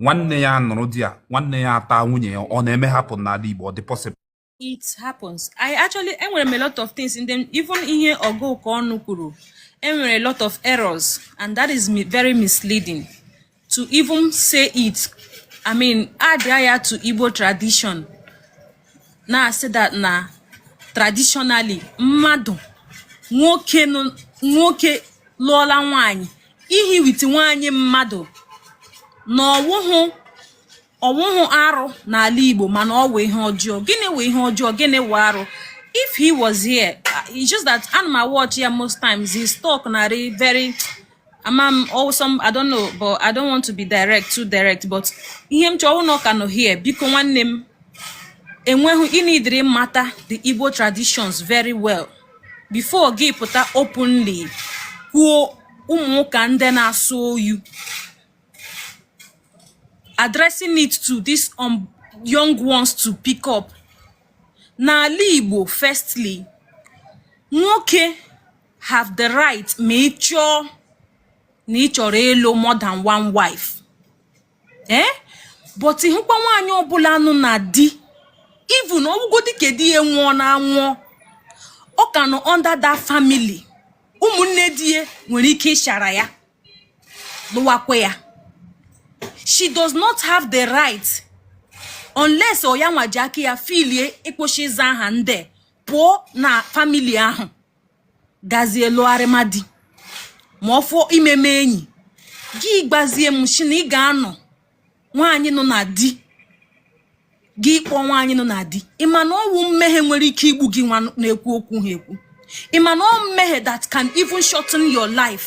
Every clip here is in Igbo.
nwanne ya anụrụ di ya nwanne ya ata nwunye ya ọ na-eme happen n'ala Igbo ọ dị possible it happens i actually enwere m a lot of things in them even ihe ọgụ ụka ọnụ kwuru enwere a lot of errors and that is very misleading to even say it i mean add ya to igbo tradition na-asị that na traditionally mmadụ nwoke nwoke lụọla nwaanyị ihi with nwaanyị mmadụ na ọ wụhụ ọ wụhụ arụ n'ala Igbo mana ọ wụ ihe ọjọọ gịnị wụ ihe ọjọọ gịnị wụ arụ if he was here uh, it's just that ana m awatch ya most times his talk na-adị very ama m awesome I don't know but I don't want to be direct too direct but ihe m chọọ ọ wụ na ọ ka nọ here biko nwanne m enweghị ị needịrị mata the Igbo traditions very well before gị pụta openly kwuo ụmụ ụka ndị na as you addressing it to this um, young ones to pick up n'ala Igbo firstly nwoke have the right ma ị chọọ na ị chọrọ ịlụ more than one wife ee eh? but ị hụkwa nwaanyị ọbụla nọ na di even ọ wụgodi ka di ya nwụọna anwụọ ọ ka nọ under that family ụmụnne di ya nwere ike ịchara ya lụwakwa ya she does not have the right unless ọ ya nwa ji aka ya feelie ịkwụsị ịza aha ndị pụọ na family ahụ gazie lụgharịma di ma ọ wụ imeme enyi gị gwazie m si na ị ga-anọ nwaanyị nọ na di gị kpọọ nwaanyị nọ na di ị ma na ọ wụ mmehie nwere ike igbu gị nwa na-ekwu okwu ha ekwu ị ma na ọ wụ mmehie that can even shorten your life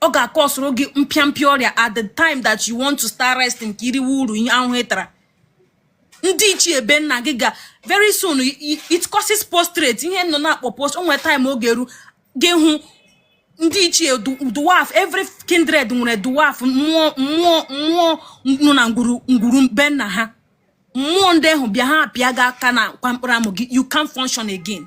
ọ ga-acausere gị mpịampịa ọrịa at the time that you want to start resting ka i riwe uru ihe ahụhụ ị tara ndị ichie be nna gị ga very soon it causes postrate ihe unu na-akpọ post o nwe time ọ ga-eru gị hụ ndị ichie dwarf every kindred nwere dwarf mmụọ mmụọ mmụọ nọ na ngwuru ngwuru be nna ha mmụọ ndị ahụ bịa ha apịa gị aka n'akwa mkpụrụ amụ gị you can't function again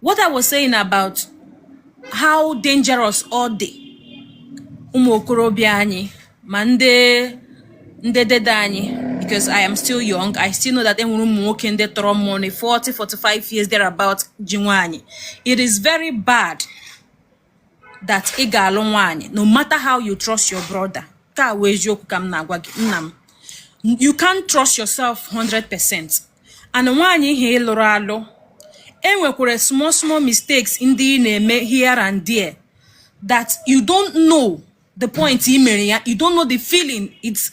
what I was saying about how dangerous ọ dị ụmụ okorobịa anyị ma ndị ndị dede anyị because I am still young I still know that enwere ụmụ nwoke ndị tọrọ mụ na 40 45 years there about ji nwaanyị it is very bad that ị ga-alụ nwaanyị no matter how you trust your brother nke a wụ eziokwu ka m na-agwa gị nna m you can't trust yourself 100% and nwaanyị ihe ị lụrụ alụ enwekwara small small mistakes ndị ị na-eme here and there that you don't know the point ị mere ya you don't know the feeling it's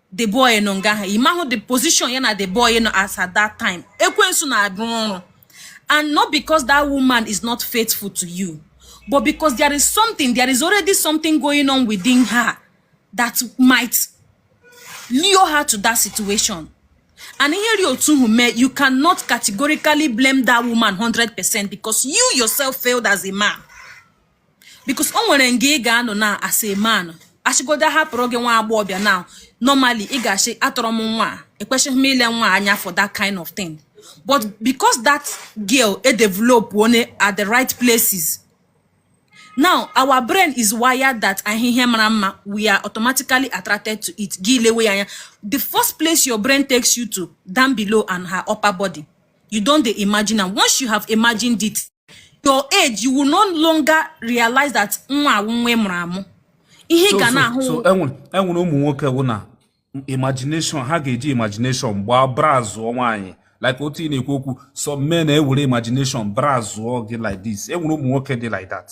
the boy nọ nga ha imahụ the position ya na the boy nọ as at that time ekwensu na-arụ ọrụ and not because that woman is not faithful to you but because there is something there is already something going on within her that might lure her to that situation and ihe ri otu hụ mee you cannot categorically blame that woman 100% because you yourself failed as a man because o nwere nga ị ga-anọ na as a man a sịgodo a hapụrụ gị nwa agbọghọbịa na normally ị ga-asị atọrọ m nwa ekwesịghị m ile nwa anya for that kind of thing but because that girl e develop one at the right places now our brain is wired that ị hụ ihe mara mma we are automatically attracted to it gị lewe ya anya the first place your brain takes you to down below and her upper body you don dey imagine am once you have imagined it your age you will no longer realize that nwa a wụ nwa ị mụrụ amụ ihe ị So- ga so- na-ahụ so enwere enwere ụmụ nwoke wụ na imagination ha ga-eji imagination gbaa browsụọ nwaanyị like otu ị na-ekwu okwu some men na-ewere imagination browsụọ gị like this enwere ụmụ nwoke dị like that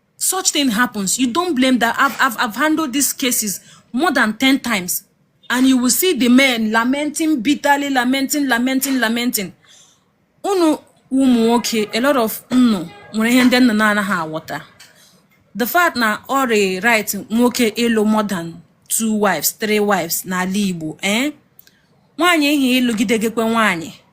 such thing happens you don't blame that I've, I've, I've handled these cases more than 10 times and you will see the men lamenting bitterly lamenting lamenting lamenting unu ụmụ nwoke a lot of unu nwere ihe ndị unu na-anaghị aghọta the fact na ọ rị right nwoke ịlụ more than two wives three wives n'ala Igbo eh nwaanyị ihe ịlụgide gekwe nwaanyị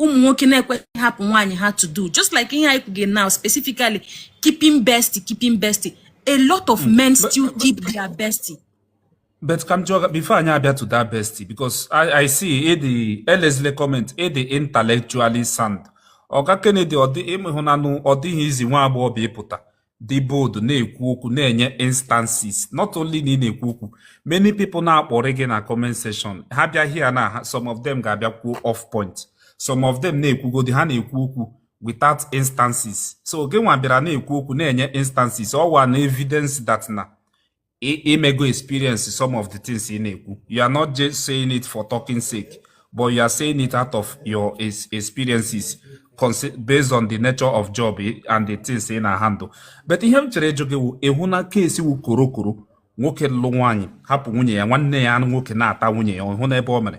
ụmụ nwoke na-ekwesị hapụ nwaanyị ha to do just like ihe anyị kwuge now specifically keeping bestie keeping bestie a lot of hmm. men still keep their bestie but ka m jụọ before anyị abịa to that bestie because I, I see edi elezile comment ị dị intellectually sound Oga Kennedy ọ dị ịmụhụnanụ ọ dịghị easy nwa agbọghọ ịpụta dị bold na-ekwu okwu na-enye instances not only na ị na-ekwu okwu many people na-akparị gị na comment section ha bịa here na some of them ga-abịa kwuo off point some of them na-ekwugodi ha na-ekwu okwu without instances so gị nwa bịara na-ekwu okwu na-enye instances ọ wụ an evidence that na i mego experience some of the things ị na-ekwu you are not just saying it for talking sake but you are saying it out of your experiences based on the nature of job and the things ị na-handle but ihe m chọrọ ịjụ gị wụ ị hụna case wụ korokoro nwoke lụ nwaanyị hapụ nwunye ya nwanne ya nwoke na-ata nwunye ya ị hụna ebe o mere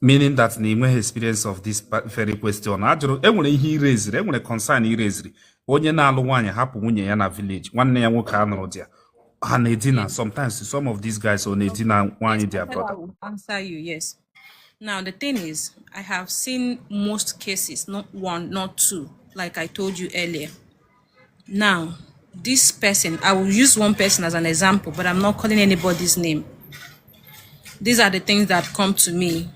meaning that na i nweghị experience of this very question ajụrụ enwere ihe i raisiri enwere concern i raisiri onye na-alụ nwaanyị hapụ nwunye ya na village nwanne ya nwoke anọrọ there ha na-edina sometimes some of these guys ọ na-edina nwaanyị their brother answer you yes now the thing is i have seen most cases not one not two like i told you earlier Now, this person, I will use one person as an example, but I'm not calling anybody's name. These are the things that come to me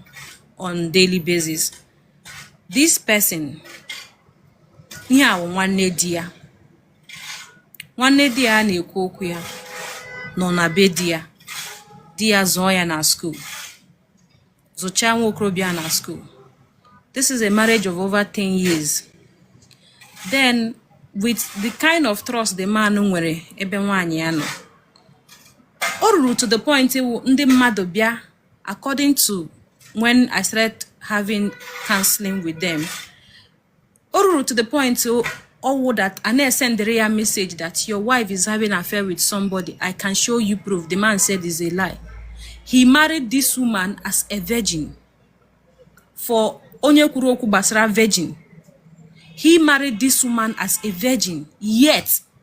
on daily basis. This person, ihe a wụ nwanne di ya. Nwanne di ya na-ekwu okwu ya nọ na be di ya. Di ya zụọ ya na school. zụchaa nwa okorobịa na school this is a marriage of over 10 years then with the kind of trust the man nwere ebe nwaanyị ya nọ o ruru to the point iwu ndị mmadụ bịa according to when I started having counseling with them o ruru to the point ọwụ that a na-esendịrị ya message that your wife is having affair with somebody i can show you proof the man said is a lie he married this woman as a virgin for onye kwuru okwu gbasara virgin he married this woman as a virgin yet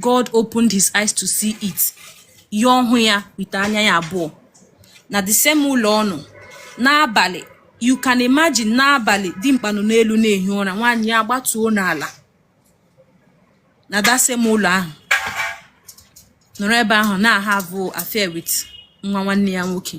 God opened his eyes to see it ya ọhụ ya with anya ya abụọ na the same ụlọ ọ nọ n'abalị you can imagine n'abalị dimkpa nọ n'elu na-ehi ụra nwaanyị ya gbatuo n'ala na that same ụlọ ahụ nọrọ ebe ahụ na-ahave affair with nwa nwanne ya nwoke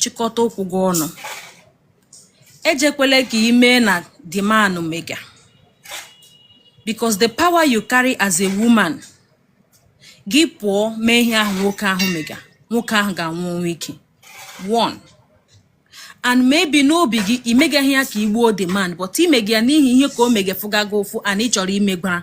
chịkọta ụkwụ gị ọnụ ejekwele ka ime na the man mega because the power you carry as a woman gị pụọ mee ihe ahụ nwoke ahụ mega nwoke ahụ ga-anwụ ọnwụ ike one and maybe n'obi gị i megaghị ya ka i gbuo the man but i mega ya n'ihi ihe ka o mega fụga gị ụfụ and ị chọrọ imegwara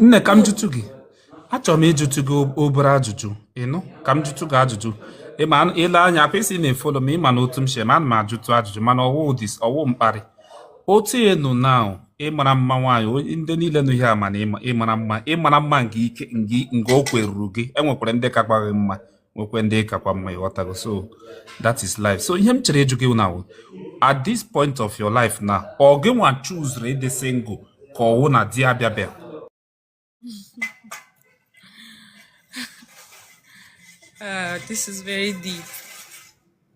nne ka m jụtụ gị achọrọ m ịjụtụ gị obere ajụjụ ị nụ ka m jụtụ gị ajụjụ ị ma i lee anya ka i si na-efolo m ị ma na otu m si eme ana m ajụtụ ajụjụ mana ọwụ ụdị ọwụ mkparị otu ị nụ na ị mara mma nwaanyị ndị niile nụ ihe a ma na ị mara mma ị mara mma nke ike nga o kweruru gị e nwekwara ndị kakwa gị mma nwekwee ndị ị kakwa mma ị ghọtago so that is life so ihe m chere ịjụ gị na at this point of your life na ọ gị nwa chuzuru ịdị single ka ọwụ na di abịabịa uh, this is very deep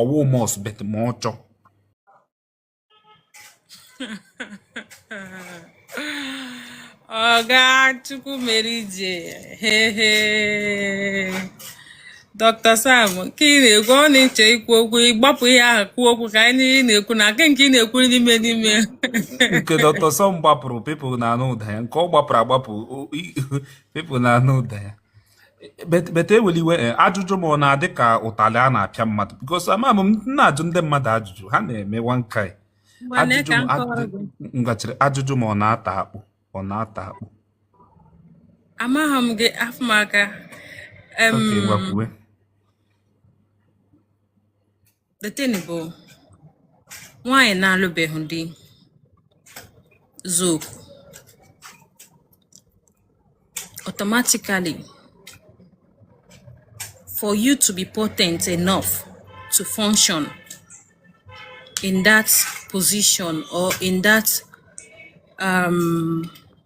ọwụ must but ma ọ chọ ọga chukwumerije hehe dọkta sam nke ị na-ekwu ọ na-eche ikwu okwu ịgbapụ ihe ahụ kwuo okwu ka anyị niile na-ekwu na nke nke ị na-ekwu n'ime n'ime nke dọkta sam gbapụrụ people na-anụ ụda ya nke ọ gbapụrụ agbapụ people na-anụ ụda ya but ewele iwe eh, ajụjụ m ọ na-adị ka ụtalị a na-apịa mmadụ because ama m na-ajụ ndị mmadụ ajụjụ ha na-eme one kind ngachiri ajụjụ m ọ na-ata akpụ ọ na-ata akpụ amaghị m gị afọ m aka the thing bụ nwaanyị na-alụbeghị di zaa oku automatically for you to be potent enough to function in that position or in that um,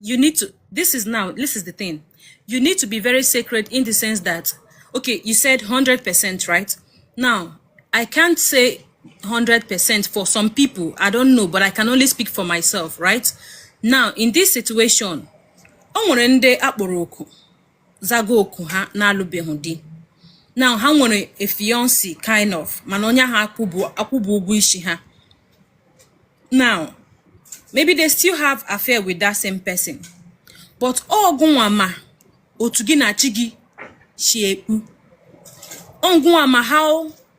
you need to this is now this is the thing you need to be very sacred in the sense that okay you said 100% right now i can't say 100% for some people i don't know but i can only speak for myself right now in this situation o nwere ndị akpọrọ oku zago oku ha na-alụbeghị di na ha nwere a fiancé kind of mana onye ahụ akwụbụ akwụbụ ụgwọ isi ha now maybe they still have affair with that same person but ọ gụnwa ma otu gị na chi gị si ekpu ọ gụnwa ma how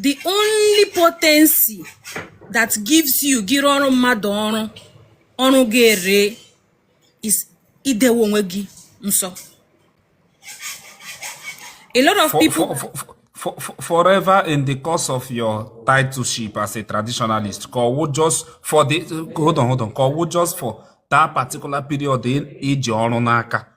the only potency that gives you gị rụọrọ mmadụ ọrụ ọrụ ga-ere is idewe onwe gị nsọ a lot of people for, for, forever in the course of your titleship as a traditionalist ka ọ wụ just for the hold on hold on ka ọ wụ just for that particular period i ji ọrụ n'aka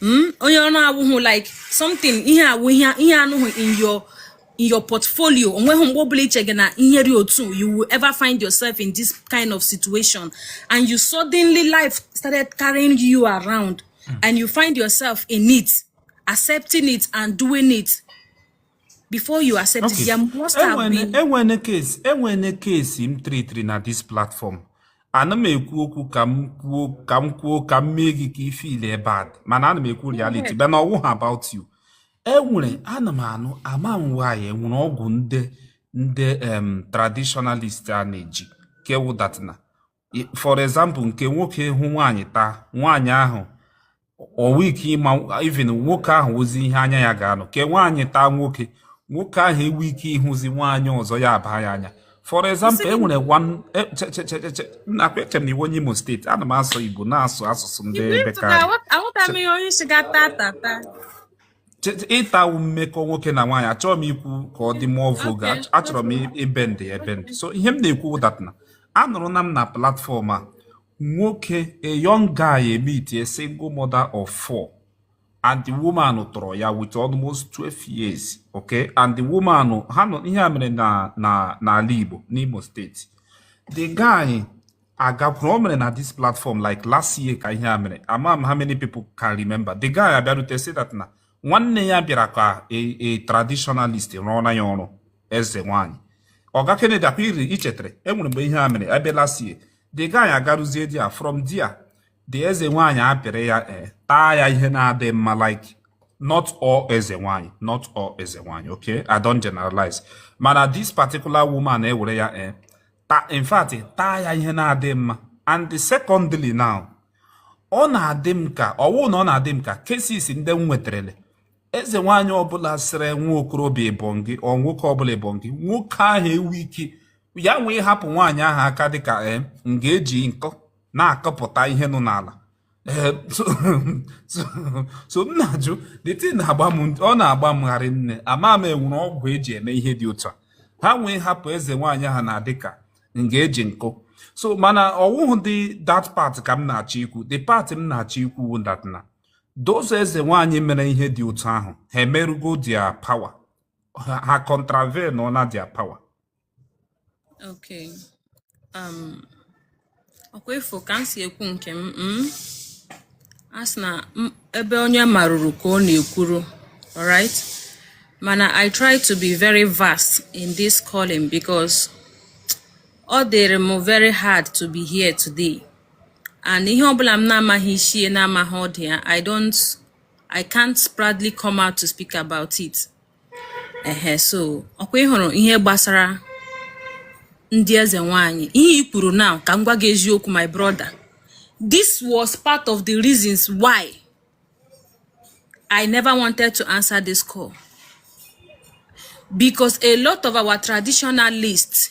Hmm? onye ọ na-awụhụ like something ihe ahụ ihe anọghị in your in your portfolio o nweghị mgbe ọbụla i chega na ihe dị otu you will ever find yourself in this kind of situation and you suddenly life started carrying you around hmm. and you find yourself in it accepting it and doing it before you accept okay. it there must have e been e nwene case e nwene case m treatiri na this platform ana m ekwu okwu ka m kwuo ka m kwuo ka m mee gị ka ị feel bad mana ana m ekwu reality bụ na ọ wụhụ about you e nwere ana m anụ ama m nwaanyị e nwere ọgwụ ndị ndị traditionalist a na-eji ke wụ that na for example nke nwoke hụ nwaanyị taa nwaanyị ahụ o nwe ike ịma even nwoke ahụ ozi ihe anya ya ga-anọ ke nwaanyị taa nwoke nwoke ahụ enwe ike ịhụzi nwaanyị ọzọ ya abaa ya anya for example e nwere eche m na ị wụ onye Imo steeti ana m asụ Igbo na-asụ asụsụ ndị bekee ịta wụ mmekọ nwoke na nwaanyị achọrọ m ikwu ka ọ dị more vulgar achọrọ m ebe ndị ebe ndị so ihe m na-ekwu wụ that na anụrụna m na platform a nwoke a young guy emeet a single mother of four and the woman tọrọ ya with almost 12 years okay and the woman ha nọ ihe a mere na n'ala Igbo n'Imo steeti the guy agakwuru o mere na this platform like last year ka ihe a mere ama m how many people can remember the guy abịarute say that na nwanne ya bịara ka a traditionalist rụọra ya ọrụ eze nwanyị ọga Kennedy ọ kwa i chetere e nwere mgbe ihe a mere ebe last year the guy agaruzie there from there the eze nwanyị apịrị ya eh, taa ya ihe na-adị mma like not all eze nwanyị not all eze nwanyị okay I don't generalize mana this particular woman ewere ya eh, ta in fact taa ya ihe na-adị mma and secondly now ọ na-adị m ka ọwụ na ọ na-adị m ka cases ndị m nwetarele eze nwaanyị ọbụla sịrị nwa okorobịa ebongi or nwoke ọbụla ebongi nwoke ahụ ewu ike ya nwee ịhapụ nwaanyị ahụ aka dịka eh, nga eji nkọ na-akọpụta ihe nọ n'ala Eh, so m na-ajụ the thing na-agba m ọ na-agba m gharị nne ama m enwere ọgwụ eji eme ihe dị otu a ha nwee hapụ eze nwaanyị ahụ na-adịka nga eji nkọ so mana ọwụhụdị that part ka m na-achọ ikwu the part m na-achọ ikwu wụ that na those eze nwaanyị mere ihe dị otu ahụ ha emerụgo their power ha contravene na their power Okay. Um, ọkwa ịfụ ka m si ekwu nke m mm? a sị na ebe onye maruru ka ọ na-ekwuru alright mana I try to be very vast in this calling because ọ dịrị m very hard to be here today and ihe ọbụla m na-amaghị isi ya na-amaghị ọdụ ya I don't I can't proudly come out to speak about it ehe so ọkwa ị hụrụ ihe gbasara ndị eze nwanyị ihe i kwuru now ka m gwa gị eziokwu my brother this was part of the reasons why I never wanted to answer this call because a lot of our traditionalists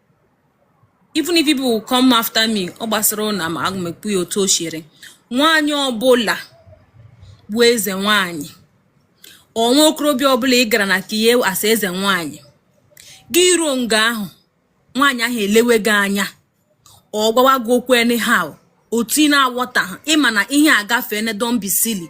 even if people will come after me ọ gbasara ụna ma aga m ekwu ya otu o siere nwaanyị ọbụla bụ eze nwaanyị or nwa okorobịa ọbụla ị gara na ke ya as eze nwaanyị gị ruo nga ahụ nwaanyị ahụ elewe gị anya ọ gwawa gị okwu anyhow otu ị na-awọtaha ị ma na ihe agafeena don't be silly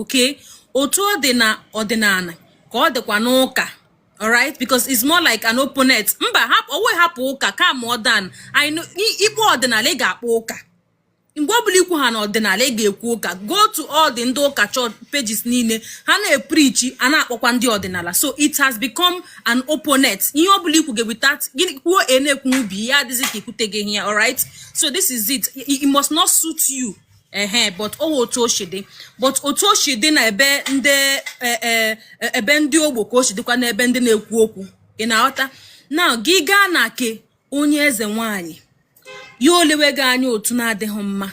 okay otu ọ dị na ọdịnala ka ọ dịkwa n'ụka alright because it's more like an opponent mba owe hapụ ụka kama ọ dan ị kpọọ ọdịnala ị ga-akpọ ụka mgbe ọ bụla ikwu ha na ọdịnala ị ga-ekwu ụka go to all the ndị ụka church pages niile ha na-epreach a na-akpọkwa ndị ọdịnala so it has become an opponent ihe ọ bụla ikwu ga-eweta gịnị kwuo e na-ekwu ọ bịa dịzie ka ikwute gị ihe alright so this is it it must not suit you ehe but ọ wụ otu o si dị but otu o si dị na ebe ndị e, e, e, ebe ndị ogbo ka o si dịkwa n'ebe ndị na-ekwu okwu ị na-aghọta na gị gaa na ke onye eze nwanyị ya elewe gị anya otu na-adịghị mma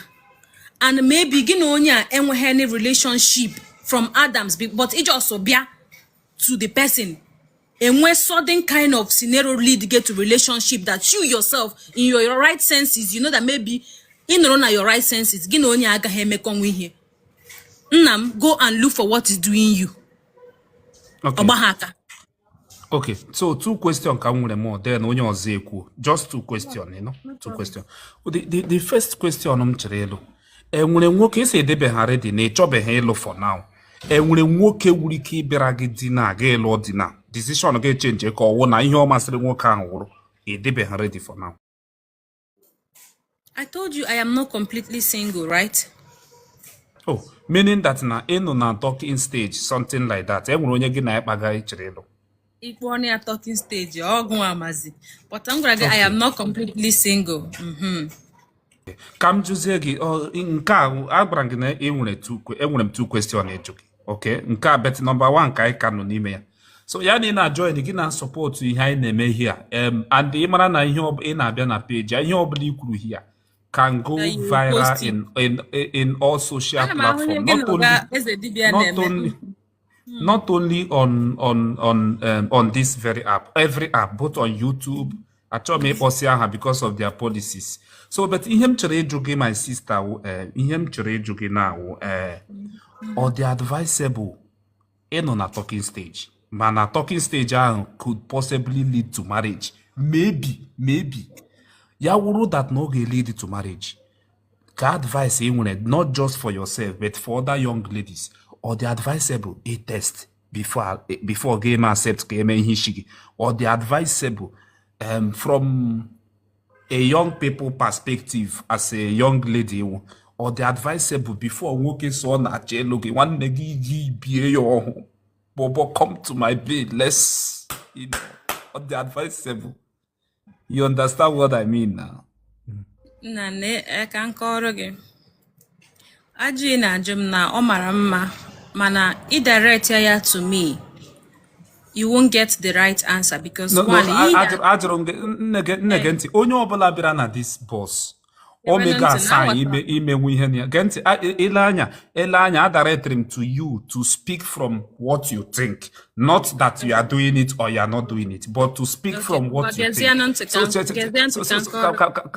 and maybe gị na onye a enweghị any relationship from Adams but ị just bịa to the person enwe sudden kind of scenario lead gị to relationship that you yourself in your, your right senses you know that maybe ị nọrọ na your right senses gị na onye a agaghị emekọnwa ihe nna m go and look for what is doing you ọ gbaghị aka okay so two question ka m nwere more then onye ọzọ ekwuo just two question you know two question the, the, the first question m chọrọ ịjụ enwere nwoke ị sị ị dịbeghị ready na ị chọbeghị ịlụ for now enwere nwoke nwere ike ịbịara gị di na aga ịlụ di na decision gị echenji ka ọ wụ na ihe ọ masịrị nwoke ahụ wụrụ ị dịbeghị ready for now I told you I am not completely single, right? Oh, meaning that na ị nọ na talking stage something like that enwere onye gị na ya kpaga ị chọrọ ịlụ ị kpọọnụ ya talking stage ọ gị mazi but m gwara gị I am not completely single mhm. ka m jụzie gị nke a agwara gị na enwere enwere m two question ịjụ gị ok nke a but nọmba one ka anyị ka nọ n'ime ya so ya na ị na-ajọin gị na-asọpọtụ ihe anyị na-eme here and ị mara na ị na-abịa na peji ihe ọbụla i kwuru here can go viral in, in, in all social platforms. Not only, not only, Hmm. Not only on on on um, on this very app, every app, both on YouTube. Achọghị m ịkpọsị aha because of their policies. So, but ihe m chọrọ ịjụ gị my sister wụ eh, ihe m chọrọ ịjụ gị na wụ eh, ọ dị advisable ịnọ na talking stage mana talking stage ahụ could possibly lead to marriage maybe maybe ya wụrụ that na ọ ga-lead to marriage ka advice ị nwere not just for yourself but for other young ladies ọ dị advisable ị test before before gị eme accept ka e mee ihe isi gị ọ dị advisable um, from a young people perspective as a young lady wụ ọ dị advisable before nwoke sị ọ na-achọ ịlụ gị nwanne gị gị bie ya ọhụ bobo come to my bed let's you know, ọ dị advisable You understand what I mean now? Nna na e, ka m kọọrọ gị. Ajụjụ ị na-ajụ m na ọ mara mma mana ị directia ya to me. You won't get the right answer because no, one no, ajụrụ m gị nne gee ntị onye ọbụla bịara na this box omega asaa imenwu ihe na ya gee ntị ile anya ele anya adirectri m to you to speak from what you think not that you are doing it or you are not doing it but to speak from what you think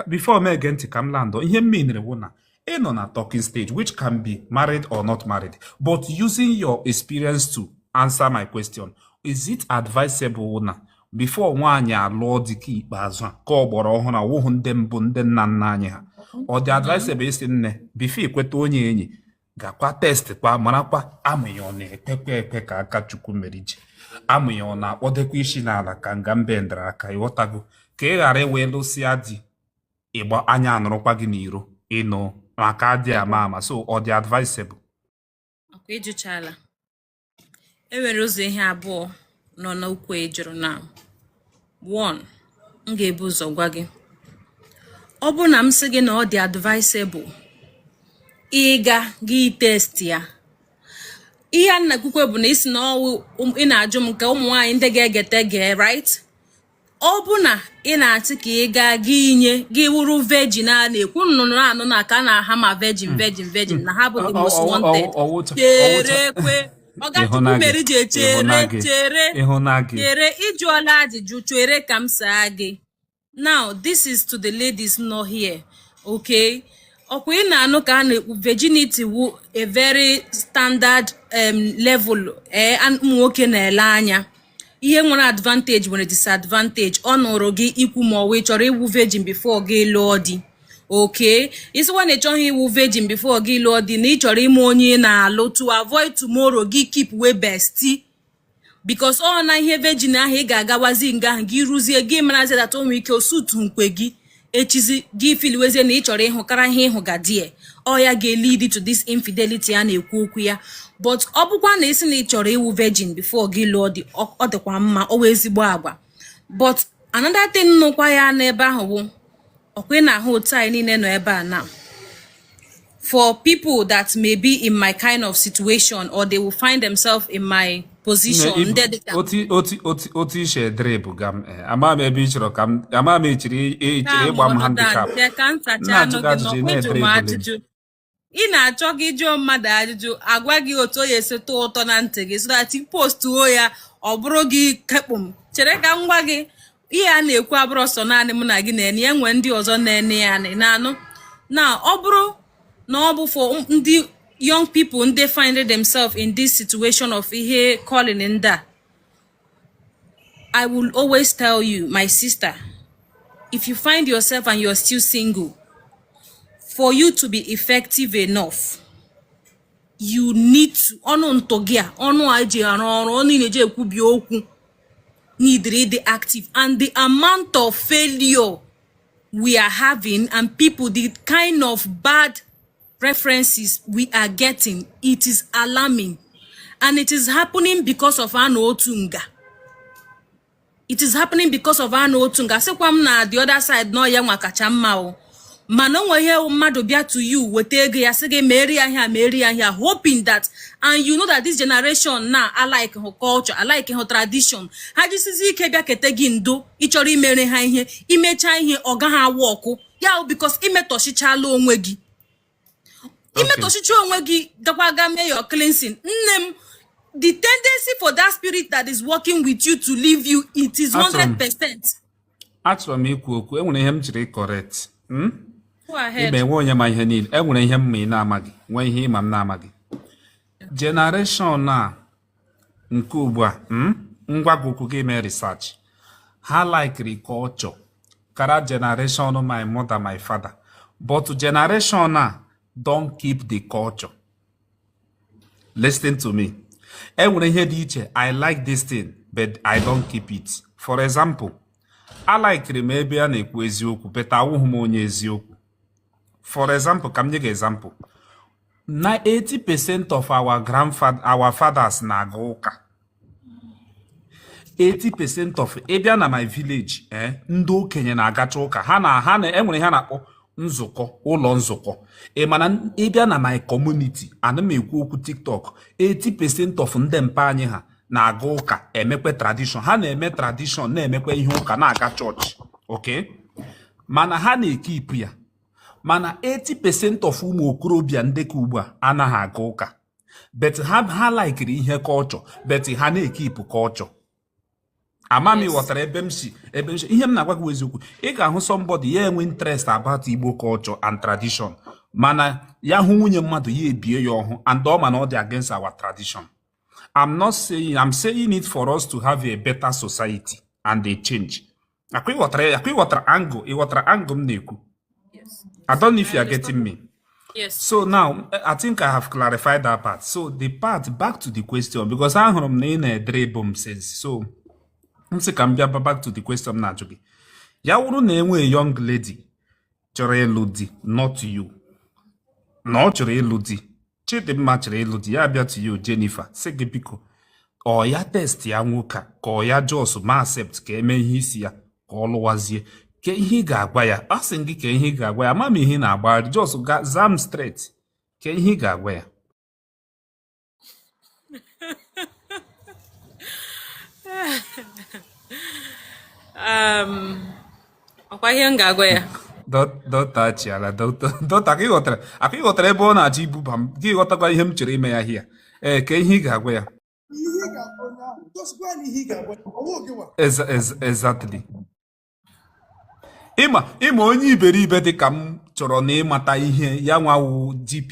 before m gee ntị ka m landọ ihe m meanịrị wụ na ị nọ na talking stage which can be married or not married but using your experience to answer my question is it advisable na before nwaanyị alụọ di ke ikpeazụ a ka agbọrọ ọhụrụ awụhụ ndị mbụ ndị nna nna anyị ha ọ dị advisable ị sị nne before i kweta onye enyi gakwa test kwa marakwa amụ ya ọ na-ekwekwa ekwe ka aka Chukwumerije amụ ya ọ na-akpọdekwa isi n'ala ka nga mbe dara aka ịghọtago ka ị ghara ịwee lụsịa di ịgba anya anọrọkwa gị n'iro ịnụ maka adị ama ama so ọ dị advisable ọkwa ịjụchala e nwere ụzọ ihe abụọ nọ n'okwu ị jụrụ now one m ga-ebu ụzọ gwa gị ọ bụrụ na m sị gị na ọ dị advisable ị gaa gị test ya ihe a na-ekwukwe bụ na ị sị na ọ wụ um, ị na-ajụ m nke ụmụ nwaanyị ndị ga-egete gee right ọ bụ na ị na-asị ka ị gaa gị inye gị wụrụ virgin a na-ekwu nnụnụ anụ na ka na-aha ma virgin hmm. virgin virgin na ha bụ the most wanted cherekwa ọga Chukwumerije chere chere chere ịjụọla ajụjụ chere ka m saa gị now this is to the ladies nọ here okay ọkwa ị na-anụ ka a na-ekwu virginity wụ a very standard um, level eh, ụmụ nwoke na-ele anya ihe nwere advantage nwere disadvantage ọ nọọrọ gị ikwu ma ọ wụ ị chọrọ ịwụ virgin before gị lụọ di okay ị sịkwa na ị chọghị ịwụ virgin before gị lụọ di na ị chọrọ ịma onye ị na-alụ to avoid tomorrow gị keepwe bestie because ọ na ihe virgin ahụ ị ga-agawazi nga ahụ gị ruzie gị marazi that o nwe ike osutu nkwe gị echizi gị feelwezie na ị chọrọ ịhụ kara ihe ị hụ ga die ọ ya ga-elead to this infidelity a na-ekwu okwu ya but ọ bụkwa na ị sị na ị chọrọ ịwụ virgin before gị lụọ di ọ dịkwa mma ọ wụ ezigbo agwa but another thing nọkwa ya n'ebe ahụ bụ ọkwa ị na-ahụ otu anyị niile nọ ebe a na for people that may be in my kind of situation or they will find themselves in my position otu ishe drip ga m eh, ama m ebe ị chọrọ ka m ama m ị chọrọ ịgba m handicap ị na-achọ gị jụọ mmadụ ajụjụ agwa gị otu o ya esi tọọ ụtọ na ntị gị so that ị postuo ya ọ bụrụ gị kekpụm chere ka m gwa gị ihe a na-ekwu abụrọ sọ naanị mụ na gị na-ene ya nwee ndị ọzọ na-ene ya na-anụ na ọ bụrụ na ọ bụ for ndị young people ndị find themselves in this situation of ihe calling ndị a I will always tell you my sister if you find yourself and you're still single for you to be effective enough you need to ọnụ ntụ gị a ọnụ a ji arụ ọrụ ọnụ ị na-eji ekwubi okwu needri ịdị active and the amount of failure we are having and people the kind of bad references we are getting it is alarming and it is happening because of anọ otu nga it is happening because of anọ otu nga sịkwa m na the other side na ọ ya nwa kacha mma o mana o nweghị ihe wụ mmadụ bịa to you weta ego ya sị gị meere ya ihe a meere ya ihe a hoping that and you know that this generation na alikehụ culture alikehụ tradition ha jisizi ike bịakwute gị and ịchọrọ imere ha ihe imechaa ihe ọ gaghị awọkụ ya bụ because imetọchichala onwe gị imetọchicha onwe gị gakwa ga mee your cleansing nne m the tendency for that spirit that is working with you to leave you it is 100 percent achọrọ m ikwu okwu enwere ihe m chọrọ ịcorrect hmm? ịma enwe onye ma ihe niile enwere ihe m ma ị na-amaghị nwee ihe ịma m na-amaghị jenereshọn a nke ugbu a hmm? m gwa gị okwu ga mee research ha likiri culture kara jenereshọn my mother my father but jenereshọn a don't keep the culture listen to me e nwere ihe dị iche i like this thing but i don't keep it for example alikiri m ebe a na-ekwu eziokwu but awụghị m onye eziokwu for example ka m nye gị example na 80% of our grandfather our fathers na-aga ụka 80% of ịbịa na my village ee eh, ndị okenye na-agacha ụka ha na ha na enwere ihe a na-akpọ nzukọ ụlọ nzukọ ị mana ịbịa na my community ana m ekwu okwu tiktok 80% of ndị mpa anyị ha na-aga ụka emekwe tradishọn ha na-eme tradishọn na-emekwe ihe ụka na-aga chọọchị ok mana ha na-ekipụ ya mana 80% of ụmụ okorobịa ndị ke ugbu a anaghị aga ụka but ha ha laikiri ihe kọlchọ but ha na-ekipụ kọlchọ ama m ịghọtara ebe m si ebe m si ihe m na-agwa gị wụ eziokwu ị ga-ahụ somebody ya enwe interest about igbo culture and tradition mana ya hụ nwunye mmadụ ya ebie ya ọhụ and ọ ma na ọ dị against our tradition I'm not saying I'm saying it for us to have a better society and a change akwa ịghọtara ya akwa ịghọtara angle ịghọtara angle m na-ekwu I don't know if you are getting me Yes. so now I think I have clarified that part so the part back to the question because ahụrụ m na ị na-edribble m since so m sị ka m bịa ba- back to the question m na-ajụ gị ya wụrụ na enwee young lady chọrọ ịlụ di not you na ọ chọrọ ịlụ di chidimma chọrọ ịlụ di ya bịa to you Jennifer sị gị biko ọ ya testịa nwoke a ka ọ ya just ma accept ka eme ihe isi ya ka ọ lụwazie kee ihe ị ga-agwa ya asị m gị kee ihe ị ga-agwa ya ama m ihe ị na-agbagharị just zaa m straight kee ihe ị ga-agwa ya Um, ọkwa ihe m ga-agwa ya dọta chiala dọta ka ịghọtara aka ịghọtara ebe ọ na-achọ ibuba m gị ghọtakwa ihe m chere ime ya hia ee eh, kee ihe ị ga-agwa ya exactly ị ma ị ma onye iberibe dị ka m chọrọ na ịmata ihe ya nwa wụ JP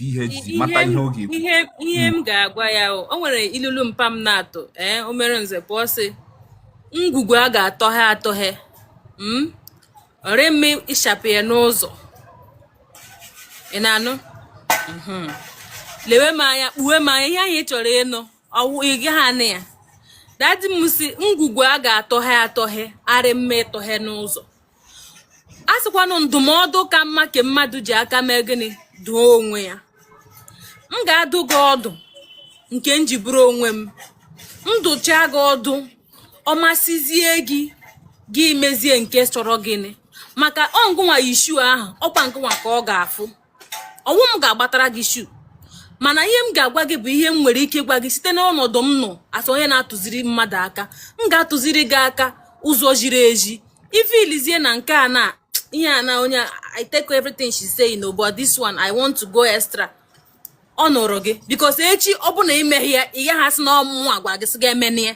mata ihe ọ ga-ekwu ihe ihe m ga-agwa ya o o nwere ilulu mpa m na-atụ ee o mere nze pụọ sị ngwugwu a ga-atọhe atọhe ọrị mma ịchapụ ya n'ụzọ ị na-anụ Mhm. lewe m anya kpuwe m anya ihe ahụ ị chọrọ ịnụ ọwụ ị gaghị anụ ya daddy m sị ngwugwu a ga-atọhe atọhe arị mma ịtọhe n'ụzọ a sịkwanụ ndụmọdụ ka mma ka mmadụ ji aka mee gịnị dụọ onwe ya m ga-adụ gị ọdụ nke m ji bụrụ onwe m m dụcha gị ọdụ ọ masịzie gị gị mezie nke chọrọ gịnị maka ọ ngịnwa yi shoe ahụ ọkwa ngịnwa ka ọ ga-afụ ọnwụ m ga-agbatara gị shoe mana ihe m ga-agwa gị bụ ihe m nwere ike gwa gị site n'ọnọdụ m nọ as onye na-atụziri mmadụ aka m ga-atụziri gị aka ụzọ ziri ezi if i lezie na nke a na ihe a na onye i take everything she say no but this one i want to go extra ọ nụrụ gị because echi ọ bụ na i meghị ya ị gaghị asị na ọ mụnwa gwa gị sị gị emena ya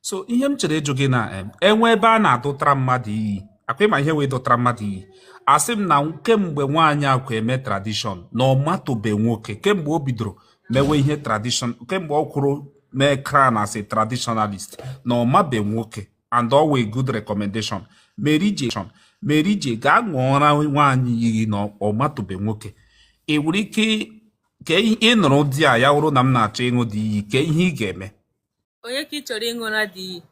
so ihe m chere ịjụ gị na e nwee ebe a na-adụtara mmadụ iyi ọkwa ị ma ihe wụ ịdụtara mmadụ iyi asị m na kemgbe nwaanyị akwa eme tradition na ọ matụbe nwoke kemgbe o bidoro mewe ihe tradition kemgbe ọ kwụrụ mee crown as a traditionalist na ọ mabe nwoke and always good recommendation Mary J. Mary J gaa ṅụọra nwaanyị iyi na ọ matụbe nwoke ị nwere ike ka ị nụrụ di a ya wụrụ na m na-achọ ịṅụ the iyi kee ihe ị ga-eme onye ka ị chọrọ ịṅụra the iyi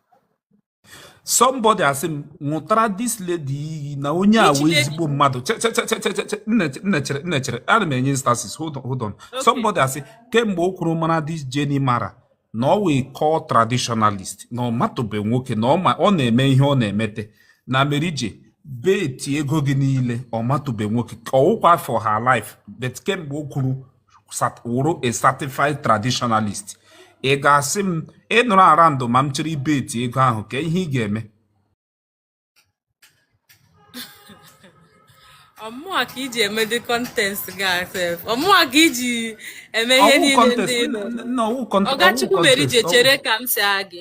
somebody asị m ṅụtara this lady iyi na onye a wụ ezigbo mmadụ nne chere ana m enye instances hold on hold on somebody asị kemgbe ọ kwụrụ mara this Jenny mara na ọ wụ a core traditionalist na ọ matụbe nwoke na ọ na-eme ihe ọ na-emete na Mary J bet ego gị niile ọ matụbe nwoke ọwụkwa for her life but kemgbe ọ kwụrụ wụrụ a certified traditionalist ị ga-asị m ịnụrụ ara ndụ ma m chịrị ibeti ego ahụ kee ihe ị ga-eme ọ mụwa ka i ji eme the contest gị sef ọ mụwa ka i ji eme ihe niile ndị Ogechukwu Mary J chere ka m sị gị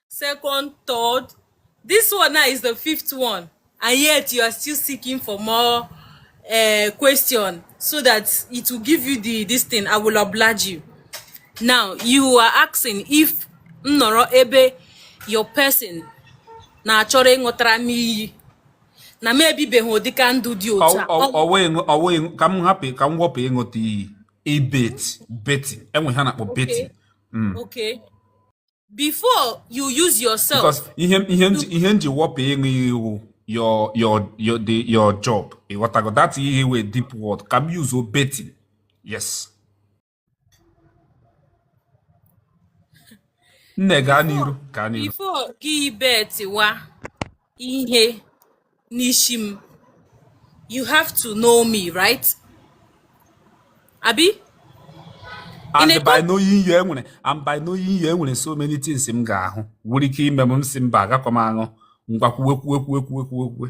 second, third. This one now is the fifth one, and yet you are still seeking for more uh, question so that I will give you the this thing. I will oblige you. Now you are asking if nnọrọ ebe your person na-achọrọ ịṅụtara m iyi na m ebibeghị ụdịka ndụ dị otu a ka m hapụ ka m wepụ ịṅụta iyi ibet beti enwe ihe a na-akpọ beti mm. before you use yourself because ihe ihe ihe m ji wepụ ịṅụ iyi wụ your your your the your job ịghọtago that iyi wụ deep word ka m use beti yes nne gaa n'iru gaa n'iru before gị betiwa ihe n'isi m you have to know me right abi and by knowing you enwere and by knowing you enwere so many things m ga-ahụ nwere ike ime m si mba agakọ m aṅụ ngwa kwuwe kwuwe kwuwe kwuwe kwuwe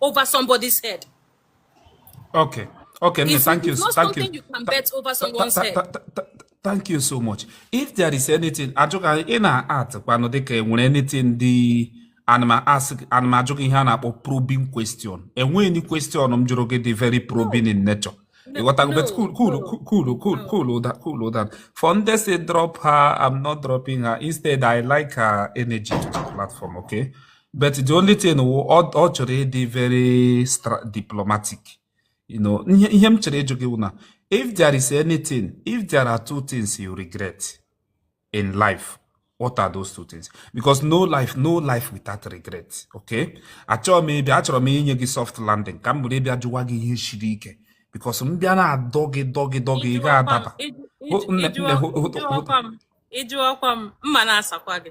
over somebody's head. Okay. Okay, no, thank you. Thank you. you can bet over someone's head. Thank you so much. If there is anything, ajụka ị na-at kwanụ dịka enwere anything dị ana m ajụ gị ihe a na-akpọ probing question. Enweghị any question m jụrụ gị dị very probing in nature. ịghọtago bet cool cool cool cool cool ụda cool ụda for ndị si drop her I'm not dropping her instead I like her energy to the platform okay but the only thing wụ ọ chọrọ ịdị very diplomatic you know ihe m chọrọ ịjụ gị wụ na if there is anything if there are two things you regret in life what are those two things because no life no life without regret okay achọrọ m ịbịa achọrọ m inye gị soft landing ka m bụrụ ịbịa jụwa gị ihe siri ike because m bịa na-adọ gị dọ gị dọ gị ị ga-adaba ị jụọkwa m ma m na-asakwa gị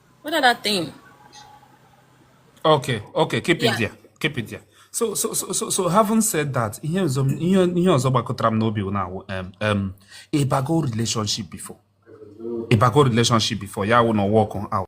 What other thing? Okay, okay, keep yeah. it there. Keep it there. So, so, so, so, so having said that, ihe ọzọ ihe ihe ọzọ gbakọtara m n'obi na um, um, ịbago relationship before. Ịbago relationship before, ya wụ na ọ work out.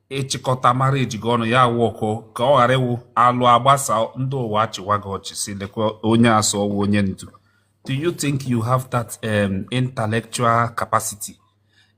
ịchịkọta marriage gị ọnụ ya awụ ọkụ ka ọ ghara ịwụ alụọ agbasaa ndị ụwa achịwa gị ọchị si lekwa onye asị ọ wụ onye ndu do you think you have that um, intellectual capacity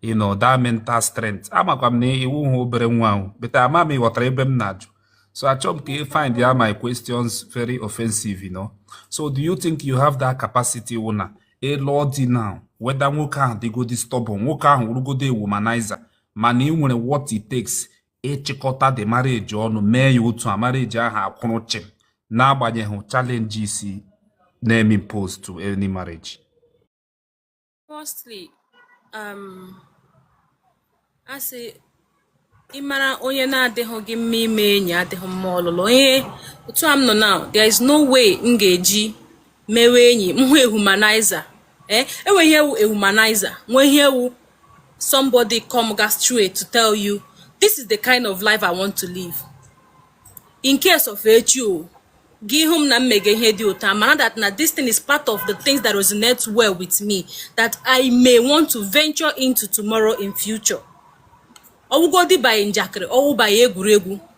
you know that mental strength amakwa m na ị wụhụ obere nwa ahụ but ama m ịghọtara ebe m na-ajụ so achọghị m ka ị find ya my questions very offensive you know so do you think you have that capacity wụ na ịlụọ di now whether nwoke ahụ dịgodi stubborn nwoke ahụ wụrụgodo a womanizer mana ị nwere what it takes ịchịkọta the marriage ọnụ mee ya otu a marriage ahụ akwụrụ chịm n'agbanyeghị challenges na-eme impose to any marriage firstly um, asị ịmara onye na-adịghị gị mma ime enyi adịghị mma ọlụlụ onye otu a m nọ now there is no way m ga-eji mewe enyi m hụ a womanizer eh, enwe ihe wụ a womanizer nwee ihe wụ somebody coming straight to tell you this is the kind of life I want to live in case of echi o gị hụ m na m mega ihe dị otu a ma na that na this thing is part of the things that resonate well with me that I may want to venture into tomorrow in future ọwụgodi by njakịrị ọwụ by egwuregwu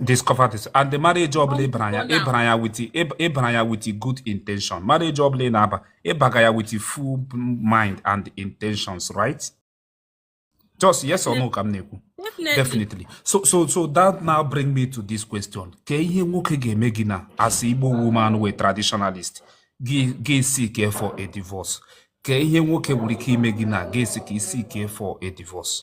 discover this and the marriage ọbụla ịbara ya ịbara ya with ịbara ya with good intention marriage ọbụla ị na-aba ịbaga ya with full mind and intentions right just yes or no ka m na-ekwu definitely so so so that now bring me to this question kee ihe nwoke ga-eme gị na as igbo woman wụ traditionalist gị seek for a divorce kee ihe nwoke nwere ike ime gị na gị seek for a divorce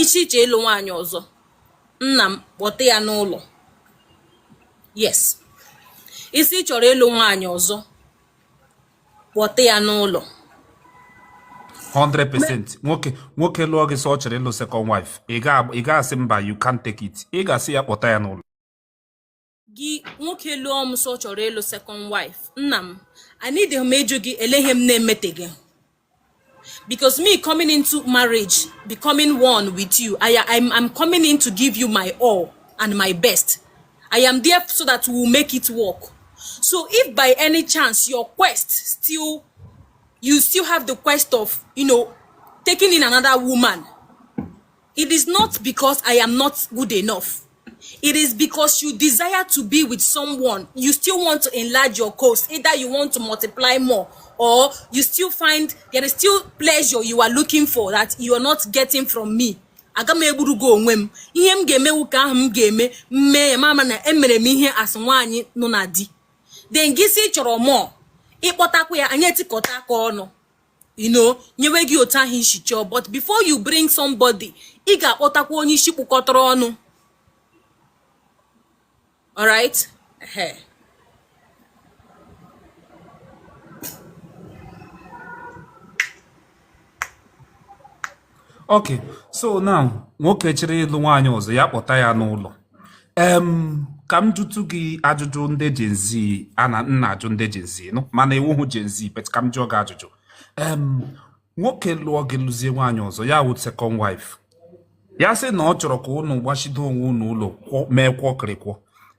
ị sị ị chọọ ịlụ nwaanyị ọzọ nna m kpọta ya n'ụlọ yes ị sị ị chọrọ ịlụ nwaanyị ọzọ kpọta ya n'ụlọ 100% nwoke nwoke lụọ gị sị ọ chọrọ ịlụ second wife ị ga-asị mba you can't take it ị ga-asị ya kpọta ya n'ụlọ gị nwoke lụọ m sị ọ chọrọ ịlụ second wife nna m aneedịghị m ịjụ gị ele ihe m na-emetaghị because me coming into marriage becoming one with you I, I'm, I'm coming in to give you my all and my best I am there so that we will make it work so if by any chance your quest still you still have the quest of you know taking in another woman It is not because I am not good enough. It is because you desire to be with someone. You still want to enlarge your coast. Either you want to multiply more or you still find there is still pleasure you are looking for that you are not getting from me. aga m egburu gị onwe m ihe m ga-eme wụ nke ahụ m ga-eme m mee ya m ama na emere m ihe a sị nwaanyị nọ na di then gị sị ị chọrọ more ị kpọtakwa ya anyị etikọta aka ọnụ you know nyewe gị otu ahụ ị si chọọ but before you bring somebody ị ga-akpọtakwa onye isi kpụkọtara ọnụ alright ok so now nwoke chọrọ ịlụ nwaanyị ọzọ ya kpọta ya n'ụlọ em ka m jụtụ gị ajụjụ ndị Gen Z a na m na-ajụ ndị Gen Z nụ mana ị wụhụ Gen Z but ka m jụọ gị ajụjụ em nwoke lụọ gị lụzie nwaanyị ọzọ ya wụ second wife ya sị na ọ chọrọ ka ụnụ gbachido onwe ụnụ ụlọ mee kwọkịrịkwọ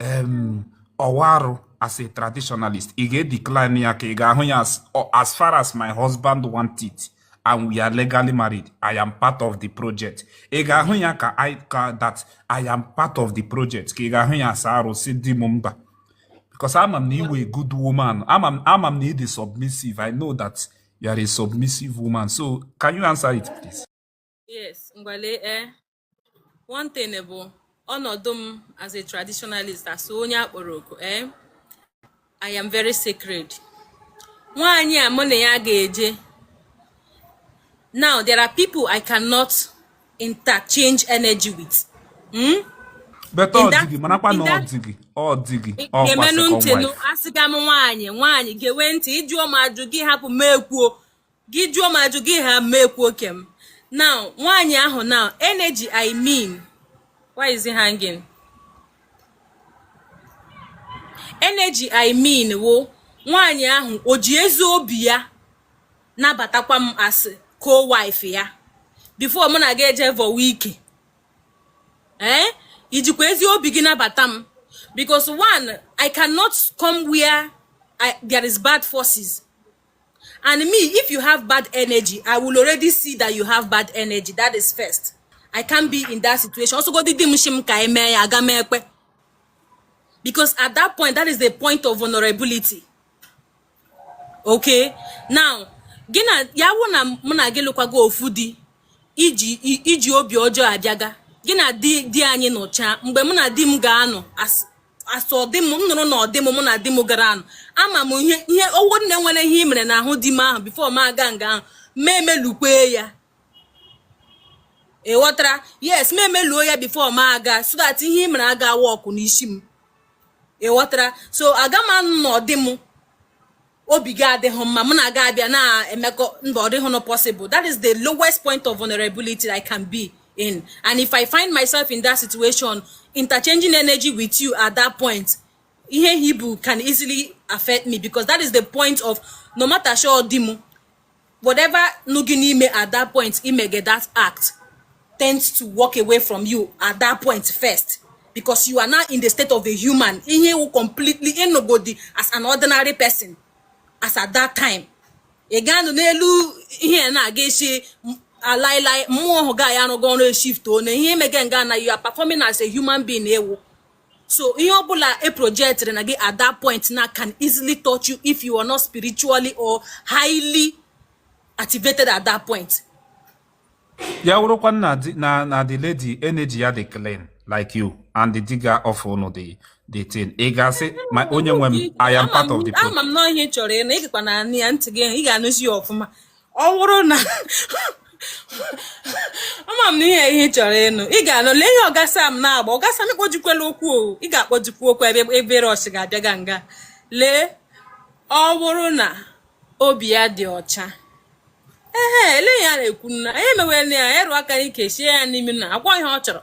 um, ọ wụ arụ as a traditionalist ị ga-edecline ya ka ị ga-ahụ ya as, as far as my husband want it and we are legally married i am part of the project ị ga-ahụ ya ka i ka that i am part of the project ka ị ga-ahụ ya as arụ sị di m mba because ama m na ị wụ a good woman ama m ama m na ị dị submissive i know that you are a submissive woman so can you answer it please yes ngwa lee eh, one thing bụ ọnọdụ m as a traditionalist as onye a kpọrọ oku ee eh, i am very sacred nwaanyị a mụ na ya ga-eje now there are people i cannot interchange energy with hmm? beta ọ dịgị marakwa na ọ dịgị ọ dịgị gee m nụ ntị nụ asịga m nwaanyị nwaanyị gewe ntị ị jụọ m ajụ gị hapụ m ekwuo gị jụọ m ajụ gị ha m ekwuo ke m now nwaanyị ahụ now energy i mean by exchanging energy i mean wụ nwaanyị ahụ o ji ezi obi ya nabatakwa m as co-wife ya before mụ na gị eje vọwa ike ee eh? i jikwa ezi obi gị nabata m because one i cannot come where I, there is bad forces and me if you have bad energy i will already see that you have bad energy that is first i can't be in that situation ọ sọgodi di m shi m ka e mee ya aga m ekpe because at that point that is the point of vulnerability okay now gị na ya wụ na mụ na gị lụkwaga ofu di i ji i ji obi ọjọọ abịaga gị na di di anyị nọchaa mgbe mụ na di m ga-anọ as ọdị m m nọrọ na ọdị m mụ na di m gara anọ ama m ihe ihe ọ wụ na e nwere ihe i mere n'ahụ di m ahụ before m aga nga ahụ m emelukwe ya ị ghọtara yes m emeluo ya before m aga so that ihe i mere aga wọkụ n'isi m ị ghọtara so aga m anọ na ọdị m obi gị adịghị mma mụ na gị abịa na-emekọ mba ọ dịghị possible that is the lowest point of vulnerability I can be in and if I find myself in that situation interchanging energy with you at that point ihe i bu can easily affect me because that is the point of no matter sure dị m whatever nọ gị n'ime at that point i mege that act tends to walk away from you at that point first because you are now in the state of a human ihe ị wụ completely ị nọgodi as an ordinary person as at that time ị ga-anọ n'elu ihe na-aga isi alailai mmụọ ọhụ gị na ya arụgo ọrụ eshift one ihe i mege nga na you are performing as a human being ị wụ so ihe ọbụla e projectịrị na gị at that point na can easily touch you if you are not spiritually or highly activated at that point ya wụrụkwa na na the lady energy ya dị clean like you and di gị of unu dị the thing ị ga-asị ma onye nwe m I am part of the problem. ama m na ihe ị chọrọ ịnụ ị gakwa na-anụ ya ntị gị ị ga-anụzi ya ọfụma ọ bụrụ na ama m na ihe ihe ị chọrọ ịnụ ị ga-anụ lee ihe ọgasa m na-agba ọgasa m kpojikwela okwu o ị ga-akpọjikwa okwu ebe ebe rọsh ga-abịa ga nga lee ọ bụrụ na obi ya dị ọcha ihe niile a na-ekwu na anyị emewela ya ya rụọ aka n'ike sie ya n'imi na-agwa ihe ọ chọrọ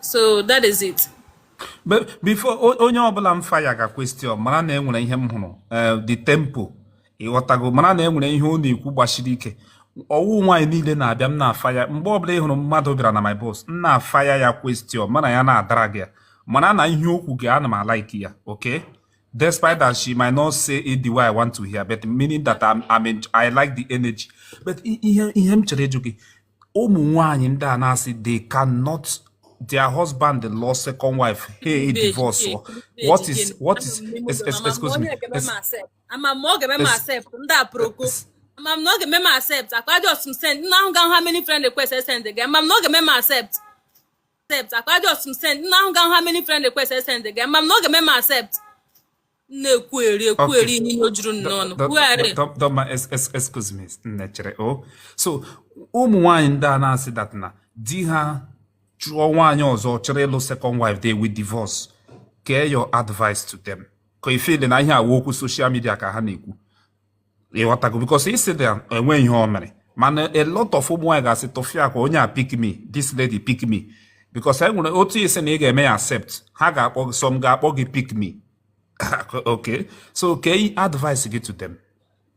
so that is it but before onye ọbụla m fire gị question mara na enwere ihe m hụrụ eh, the tempo ịghọtago mara na enwere ihe ọ na-ekwu gbasiri ike ọ wụ nwaanyị niile na-abịa m na-afaya mgbe ọbụla ị hụrụ mmadụ bịara na my box m na-afaya ya question mụ na ya na-adrag ya mara na ihe okwu gị ana m alike ya okay despite that she might not say it the way I want to hear but meaning that I'm, I'm in, I like the energy but ihe ihe m chọrọ ịjụ gị ụmụ nwanyị ndị a na-asị they cannot their husband lụọ second wife ha divorce what is what is excuse me ama m ọ ga-eme m accept ndị aproko ama m na ọ ga-eme m accept akwa just m send nna ahụ ga how many friend request send ga ama m na ọ ga-eme m accept accept akwa just m send nna ahụ ga how many friend request send ga ama m na ọ ga-eme m accept na-ekwugheri ekwugheri ihe niile juru n'ọnụ kwugharị dọma excuse me nne chere o oh. so ụmụ nwaanyị ndị a na-asị that na di ha chụọ nwaanyị ọzọ chọrọ ịlụ second wife they will divorce kee your advice to them ka ị feelị na ihe a wụ okwu social media ka ha na-ekwu ịghọtago because ị sịdị enwe ihe o mere mana a lot of ụmụ nwaanyị ga-asị tụfịakwa onye a pick me this lady pick me because e nwere otu ị sị na ị ga-eme ya accept ha ga-akpọ gị some ga-akpọ gị pick me okay so kee advice gị to them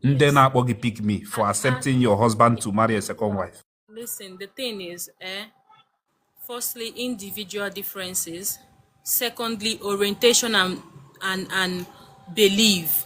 ndị na-akpọ gị pick me for accepting your husband to marry a second wife listen the thing is eh, firstly individual differences secondly orientation and and and belief